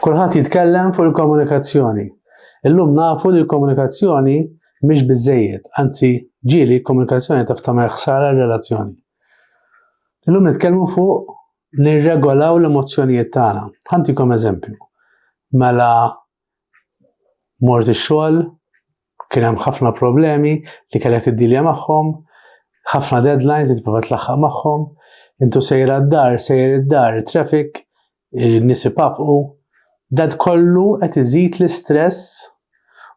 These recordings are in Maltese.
Kulħadd jitkellem fuq il-komunikazzjoni. Illum nafu li l-komunikazzjoni mhix biżejjed, anzi ġieli komunikazzjoni taf tagħmel ħsara r-relazzjoni. Illum nitkellmu fuq nirregolaw l-emozzjonijiet tagħna. Ħantikom eżempju. Mela Mort ix-xogħol, kien hemm ħafna problemi li kellek tiddilja magħhom, ħafna deadlines li tipprova tlaħħaq magħhom, intu sejra d-dar, sejr id-dar, traffic, nies ipapqu, dat kollu qed iżid l-istress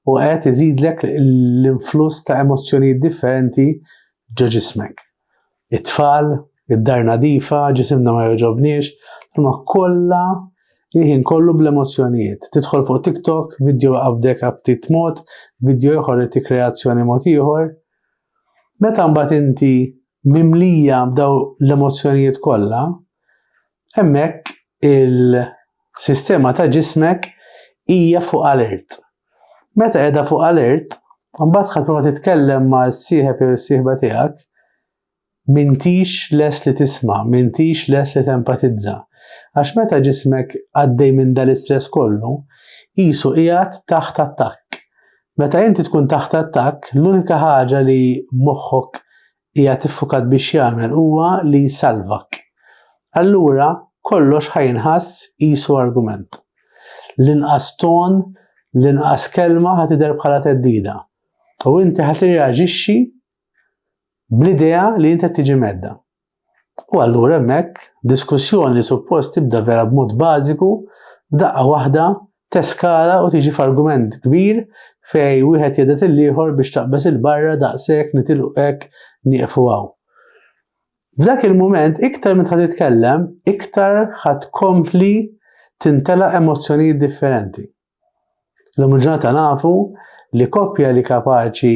u qed iżidlek l-influss ta' emozzjonijiet differenti ġo ġismek. it-tfal, id-dar nadifa, ġisimna ma jogħġobniex, imma kollha il-ħin kollu bl-emozzjonijiet. Tidħol fuq TikTok, video qabdek abtit mod, video ieħor ti kreazzjoni mod ieħor. Meta mbagħad inti mimlija b'daw l-emozzjonijiet kollha, Hemmhekk il-sistema ta' ġismek hija fuq alert. Meta qiegħda fuq alert, mbagħad ħadd ma titkellem ma' s-sieħeb jew is-sieħba tiegħek, mintix les li tisma, mintix les li tempatizza. Għax meta ġismek għaddej minn dal istress kollu, jisu qiegħed taħt attakk. Meta inti tkun taħt attakk, l-unika ħaġa li moħħok Qiegħed iffukat biex jagħmel huwa li jsalvak. Allura kollox ħa jinħass qisu argument. L-inqas ton, l-inqas kelma ħa tidher bħala theddida. U inti ħa tirreaġixxi bl-idea li inti qed tiġi medda. U allura hemmhekk diskussjoni li suppost tibda vera b'mod bażiku daqqa waħda teskala u tiġi f'argument kbir fej wieħed jedet il-ieħor biex taqbeż il-barra daqshekk nitilqu hekk nieqfu hawn. F'dak il-mument iktar meta titkellem, iktar ħadd kompli tintela emozzjonijiet differenti. L-lum ġurnata nafu li koppja li kapaċi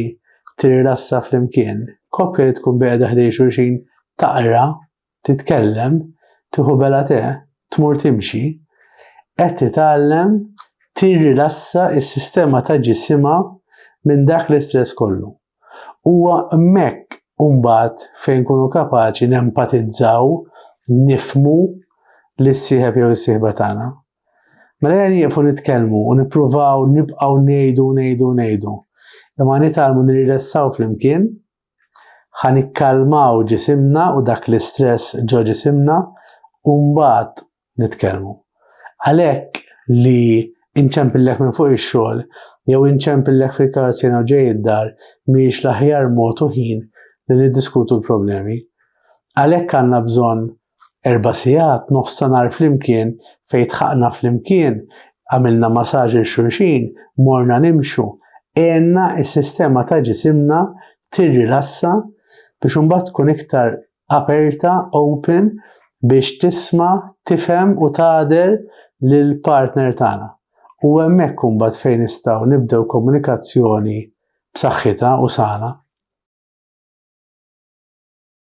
tirrassa fl-imkien, koppja li tkun beqda ħdej xulxin taqra titkellem, tieħu bela te, tmur timxi, qed titgħallem tirrilassa s-sistema ta' ġisimha minn dak l-istress kollu. Huwa hemmhekk imbagħad fejn nkunu kapaċi nempatizzaw, nifmu lis-sieħeb jew is-sieħba tagħna. Mela jgħan jieqfu nitkellmu u nippruvaw nibqgħu ngħidu ngħidu ngħidu. Imma nitalmu nirrelessaw flimkien Ħa nikkalmaw ġisimna u dak l-istress ġo ġisimna u mbagħad nitkellmu. Għalhekk li inċempillek minn fuq ix-xogħol jew inċempillek fil-karozz jew ġej id-dar mhijiex l-aħjar mod u ħin li niddiskutu l-problemi. Għalhekk għandna bżonn Erba' sigħat nofsanhar flimkien fejn tħaqna flimkien, għamilna masaġ 'il xulxin, morna nimxu, għenna s-sistema ta' ġisimna tirrilassa biex imbagħad tkun iktar aperta, open, biex tisma', tifhem u tagħder lill-partner tagħna. U hemmhekk imbagħad fejn nistgħu nibdew komunikazzjoni b'saħħitha u sana.